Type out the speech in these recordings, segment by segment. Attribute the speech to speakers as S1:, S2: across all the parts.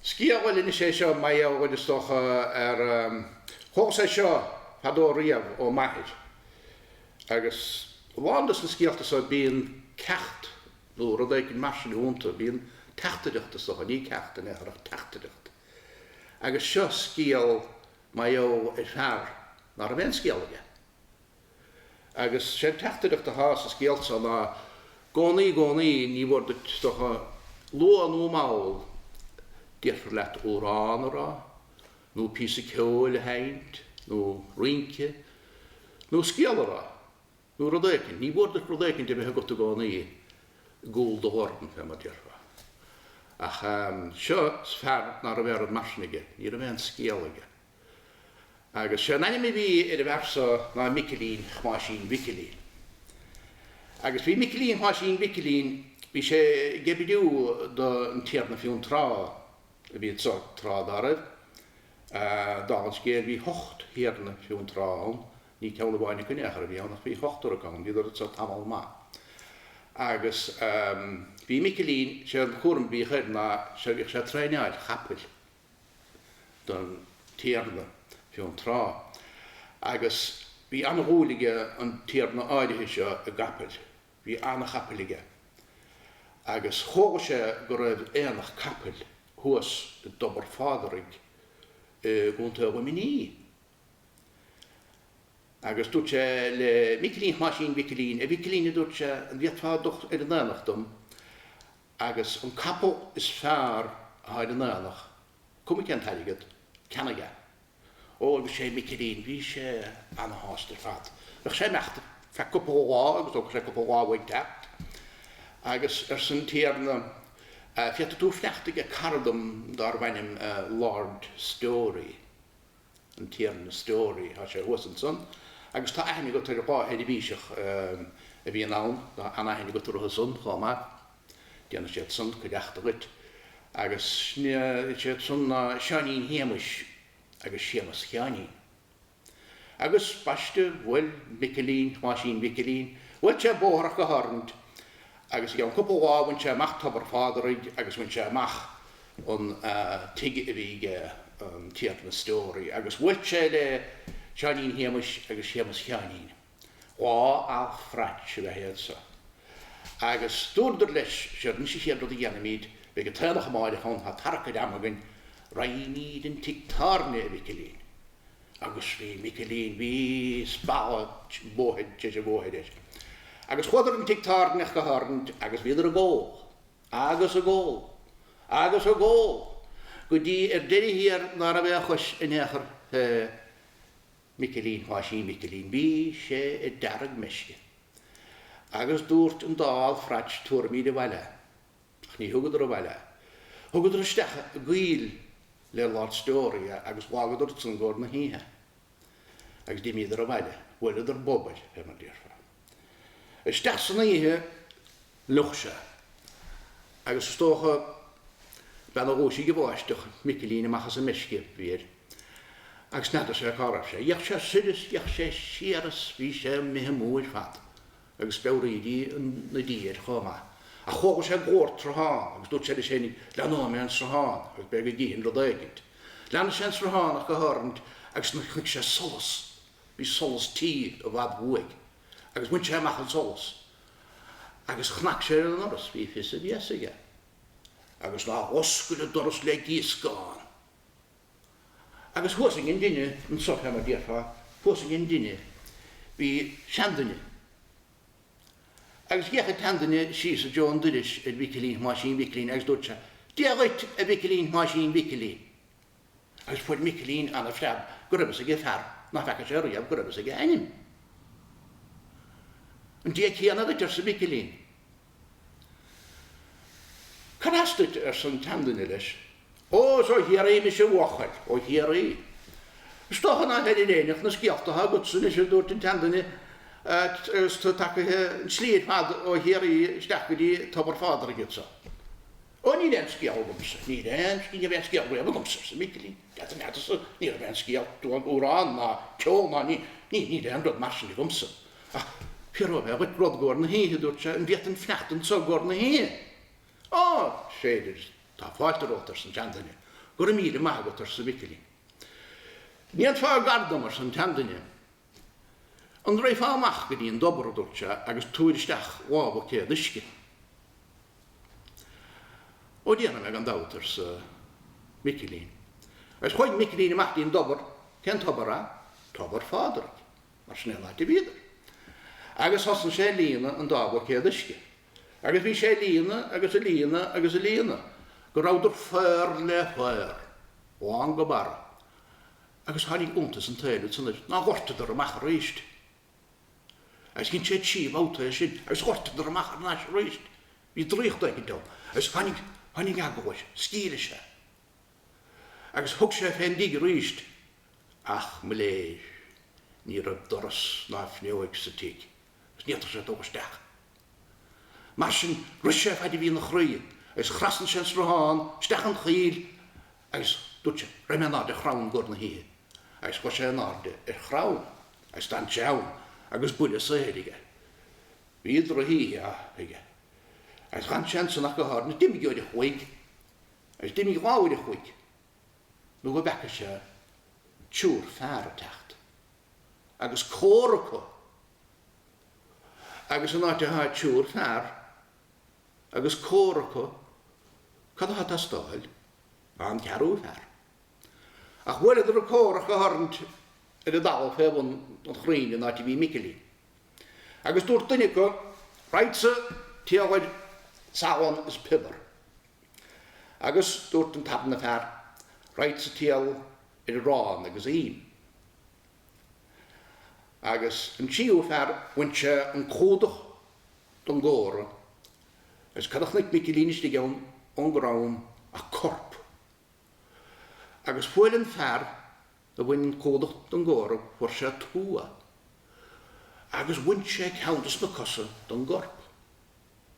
S1: Scéal, bhuel, anois é seo, mar gheall, bhuel, is dócha, ar thógas é seo fadó riamh ó m'athair agus a lán des na scéalta so bíonn ceacht nó rud éigin mar sin ionnta, bíonn teachtaireacht is dócha, ní ceacht in aon chor ach teachtaireacht. Agus seo scéal mar gheall ar fhear ná raibh aon scéal aige. Agus sé'n teachtaireacht athá sa scéal so ná, i gcónaí, i gcónaí, ní mhór duit is dócha luath nó mall, déarfar leat amhrán a rá, nó píosa ceoil a sheinnt, nó rince, nó scéal a rá, nó rud éicint. Ní mhór duit rud éicint a bheith agat i gcónaí i gcúl do dhorn, fé mar déarfá. Ach seo fear ná raibh aon rud mar sin aige. Ní raibh aon scéal aige. Agus sé an ainm a bhí ar an bhfear so ná Micilín Thomáisín Mhicilín. Agus bhí Micilín Thomáisín Mhicilín bhí sé ag oibriú don Tiarna Fionntrá a bhí anso tráth dá raibh. Dála an scéil bhí hocht Thiarna Fionntrá ann, ní ceann amháin acu in aon chor a bhí ann ach bhí hochtar ann, bhíodar anso tamall maith. Agus bhí Micilín, sé an cúram a bhíodh air ná sé bhíodh sé ag traenáil chapaill. don Tiarna Fionntrá agus bhí an-dhúil ag an Tiarna áirithe seo i gcapaill. Bhí an-chapaill aige agus chuala sé go raibh aonach capaill thuas i dTobar Phádraig i gContae Luimní agus dúirt sé le Micilín Thomáisín Mhicilín, A Mhicilín, a dúirt sé, an bhféadfá dul ar an aonach dom? Agus an capall is fearr atá ar an aonach, cuma cén t-airgead, ceannaigh é. Ó, bhí sé, Micilín, bhí sé ana-shásta ar fad. Bheadh sé ag imeacht ar feadh cúpla lá agus thógfadh sé cúpla lá uaidh teacht. Agus arsa an Tiarna, Féadfaidh tú fanacht ag cara dom dárbh ainm Lord Storey. an Tiarna Storey, tá sé thuas ansan, agus tá aithne agat ar dhá sheirbhíseach a bhíonn ann, tá an-aithne agat orthu san chomh maith, déanfaidh siad san cuideachta dhuit, agus is iad san ná Seáinín Shéamais agus Séamas Sheáinín. Agus baiste, bhuail Micilín Thomáisín Mhicilín, bhuail sé bóthar ach go háirithe, agus i gceann cúpla lá bhain sé amach Tobar Phádraig agus bhain sé amach an tigh a bhí aige an Tiarna Story agus bhuail sé le Seáinín Shéamuis agus Séamus Sheáinín. Dhá alfraits ab ea iad so. Agus dúradar leis séard an chéad rud a dhéanfaimíd beidh an t-aonach amáireach ann tá tarrac ar am againn raghaimíd an tigh tábhairne a Mhicilín agus bhí Micilín bhí spalladh bóthair tar éis an bhóthair air agus chuadar an tigh tábhairne ach go háirithe agus bhíodar ag ól. agus ag ól, agus ag ól, go dtí ar deire thiar ná raibh aon chois in aon chor fé Micilín Thomáisín Mhicilín. Bhí sé ar deargmheisce. Agus dúirt an dá alfraits tabharfaimíd abhaile é. Ach ní thugadar abhaile é. Thugadar isteach i gcoill le Lord Storey é agus dh'fhágadar ansan i gcóir na hoíche. Agus d'imíodar abhaile. Bhuaileadar bob air, fé mar déarfá. Isteach san oíche Fhliuch sé. Agus is dócha b'in a dhúisigh an bháisteach Micilín amach as an meisce a bhí air. Agus n'fheadar sé cá raibh sé. D'fhéach sé soir is d'fhéach sé siar is bhí sé imithe amú ar fad. Agus speabhraídí na dí air chomh maith. Ach chuala sé glór an tsrutháin agus dúirt sé leis fhéin, leanóidh mé an sruthán agus b'fhéidir go gcífinn rud éigint. Lean sé an sruthán ach go háirithe agus chonaic sé solas, bhí solas tí i bhfad uaidh, agus bhain sé amach an solas agus chnag sé ar an ndoras. Bhí fios a bhéasa aige agus ná h-oscail an doras le gíoscán. Agus thuas ag an dtine, annso fé mar déarfá, thuas ag an dtine bhí seanduine. Agus d'fhéach an tseanduine síos i dtreo an doiris ar Mhicilín Thomáisín Mhicilín agus dúirt sé, Dia dhuit a Mhicilín Thomáisín Mhicilín. Agus fuair Micilín ana-phreab go raibh fhios aige fear ná feaca sé riamh go raibh fhios aige a ainm. An Dia céanna duit, arsa Micilín. Cad as duit? arsa an tseanduine leis. Ó, is ó Chiarraí mise a bhuachaill. Ó Chiarraí? Is dócha ná heirionn éinne ach na scéalta atá agatsa anois, a dúirt an tseanduine, agus tú tagtha an tslí ar fad ó Chiarraí isteach go dtí Tobar Phádraig anso. Ó níl aon scéal agamsa, níl aon scéal, ní raibh aon scéal riamh agamsa arsa Micilín, dead an fhaid so, ní raibh aon scéal, duan, amhrán ná ceol ná, ní, ní, níl aon rud mar sin agamsa. Ach fíor ó a bheith dhuit rud i gcóir na hoíche, a dúirt sé, an bhféadfainn fanacht annso i gcóir na hoíche? Ó, is féidir, tá fáilte romhat, arsa an tseanduine. Go raibh míle maith agat, arsa Micilín. An ndéanfá gar dom, arsa an tseanduine. An raghfá amach go dtí an dtobar, a dúirt sé, agus tabhair isteach dhá bhuicéad uisce? Ó déanfaidh mé gan dabht, arsa Micilín. Agus chuaigh Micilín amach dtí an dtobar. Cén tobar ach Tobar Phádraig, mar sin é an áit a bhíodar. Agus thosaigh sé a líonadh an dá bhuicéad uisce. Agus bhí sé a líonadh agus a líonadh agus a líonadh go rabhadar faor le faor, lán go barra. agus tháinig iontas an tsaoil air ansan ná dhortadar amach aríst. Agus dhein sé trí bhabhta é sin agus dhortadar amach thar n-ais aríst. Bhí draíocht éigint ann agus tháinig, tháinig eagla air, sceimhligh sé agus thug sé fén dtigh aríst ach, mo léir, ní raibh doras ná fuinneoig sa tigh. is ní fhéadfadh sé dul isteach. Mar sin rith sé faid a bhí ina chroí agus thrasnaigh sé an sruthán isteach an choill agus dúirt sé, Raghaidh mé in airde ar chrann i gcomhair na hoíche. Agus chuaigh sé in airde ar chrann agus d'fhan sé ann agus buille saoir aige. Bhí drochoíche aige. Agus d'fhan sé ansan ach go háirid. D'imigh uair a chloig. Agus d'imigh dhá uair a chloig. nó go bhfeaca sé triúr fear a teacht agus comhra acu agus in áit a thá triúr fear agus comhra acu cad a thá ag teastáil ach an ceathrú fear. Ach bhuaileadar an comhra acu a tharraint ar an dtalamh fé bhun an chrainn in áit a bhí Micilín agus dúirt duine acu, Raghadsa ag triall ar salann is piobar. Agus dúirt an tarna fear, Raghadsa ag triall ar arán agus im. Agus an tríú fear bhain sé an cumhdach don gcomhra agus cad a chnuic Micilín istigh ann ón gcrann ach corp. Agus fuair an fear a bhain an cumhdach don gcomhra fuair sé tuagh. Agus bhain sé ceann de sna cosa don gcorp.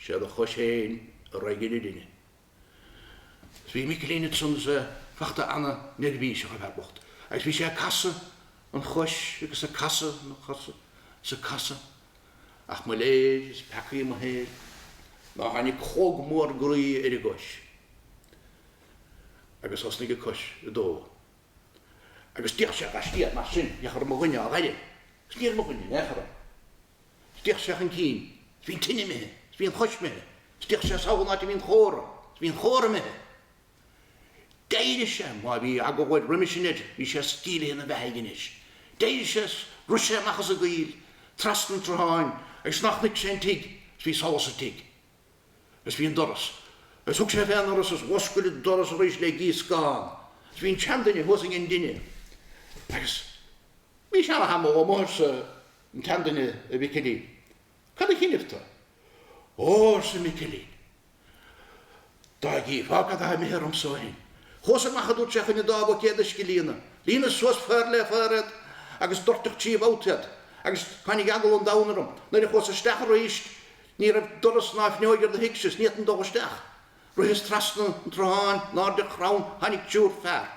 S1: Sé do chois féin a raghaidh ar an dtine. Is bhí Micilín ansan is é fachta ana neirbhíseach an fear bocht agus bhí sé ag casadh an chois agus ag casadh an chois agus ag casadh ach mo léir is peacaí mo shaoil ná tháinig clog mór groí ar an gcois agus thosnaigh an cois ag dó agus d'fhéach sé laistiar de mar sin féach an raibh mo dhuine á fhaire agus ní raibh mo dhuine in aon chor ann. D'fheuch sé chun cinn, 's bhí an tine imithe, 's bhí an chos imithe, 's d'fheuch sé sall an áit a bhí an chomhra, 's bhí an chomhra imithe. D'éirigh sé, má bhí eagla air roimis sin air, bhí sé sceimhlithe in a bheathaidh anois. D'éirigh sé 's rith sé amach as an gcoill, treasna an tsrutháin, agus nach chonaic sé an tigh, 's bhí solas sa tigh. Agus bhí an doras. Agus thug sé fé an ndoras agus dh'oscail an doras arís le gíoscán. 'S bhí an tseanduine thuas ag an dtine. Agus bhís ana-thamall amuigh, arsa. An tseanduine a Mhicilín. Cad a choinnibh tu? Ó, arsa Micilín, dá gcífeá cad atá imithe ormsa ó shin. Chuas amach, a dúirt sé, chun an dá bhuicéad uisce a líonadh. Líonas suas fear le fear iad agus doirteadh trí bhabhta iad agus tháinig eagal an domhain orm. Nuair a chuas isteach arís ní raibh doras ná fuinneoig ar do thigse is ní fhéadfainn dul isteach. Ritheas trasna an tsrutháin, in airde ar chrann, tháinig triúr fear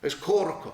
S1: agus comhra acu.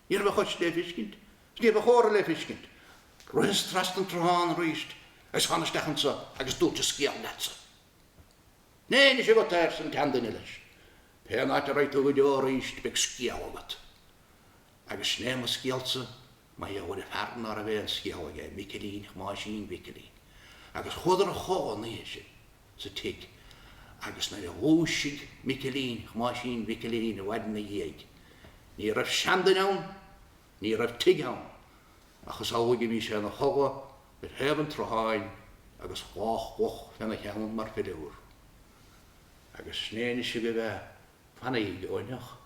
S1: Ní raibh an chos lé fiscint, is ní raibh an chomhra lé fiscint. Ritheas trasna an tsrutháin arís agus thána isteach annso agus dúrt an sgéal leat-sa. Sin é anois agat é arsa an tseanduine leis. Pén áit a raghaidh tú go deo arís beidh sgéal agat. Agus sin é mo sgéal-sa mar gheall ar fear ná raibh aon sgéal aige, Micilín Thomáisín Mhicilín. Agus chuadar a chodhladh an oíche sin. sa tigh agus nuair a dhúisigh Micilín, Thomáisín Mhicilín i bhfad in a dhiaidh, ní raibh seanduine ann, ní raibh tigh ann, ach is amhlaidh a bhí sé in a chodladh ar thaobh an tsrutháin agus cloch mhoch fé n-a cheann mar philiúr. Agus sin é anois agaibh é, fanaíg ó inneach.